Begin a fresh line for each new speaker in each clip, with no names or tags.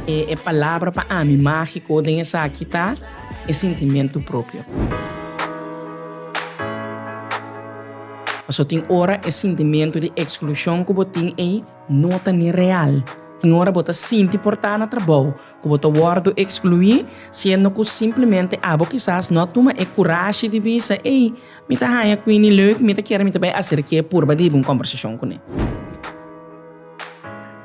E palabra pa ami magico den esaki ta e sentimiento propio. Paso tin ora e sentimiento di exclusion cu bo tin ey no ta ni real. Tin ora bo ta sinti por ta na trabou cu bo ta wordo exclui siendo cu simplemente abo kisas no a tuma e curashi di bisa ey. Mi ta haña Queenie leuk, mi ta kier mi ta bai hacer ke purba di hiba un combersacion cune.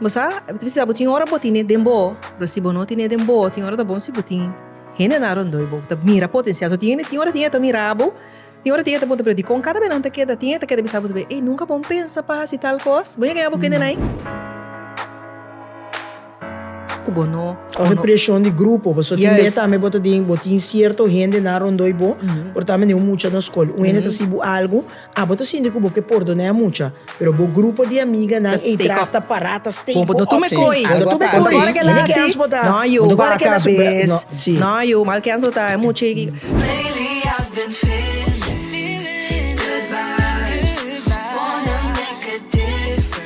Bo sa, mi ta bisa bo tin ora bo tine den bo, pero si bo no tine den bo, tin ora ta bon si bo tin hendenan rondoi bo ku ta mira potencial. So tin hende tin ora tin e ta mira bo, tin ora tin e ta puntra bo, pero dikon kada bes nan ta keda? Tin e ta keda bisa bo tu bay, ey nunka bon pensa pa hasi tal kos, bo yega ya bo ku hendenan ey? Cu bo no. Coge presión di grupo, pasobra tin bes tambe bo ta den, bo tin cierto hende nan rondoi bo, pero tambe na e un mucha na scol. Un hende ta haci bo algo, ah, bo ta sinti cu bo ke pordona e mucha, pero bo grupo di amiganan eitras ta para, ta stake bo op. Bo no tuma e kooi. Bo no tuma e kooi. Bo no bai kens bo ta. No yo, bai kens bo ta. No yo, mal kens bo ta. E mucha ei ki.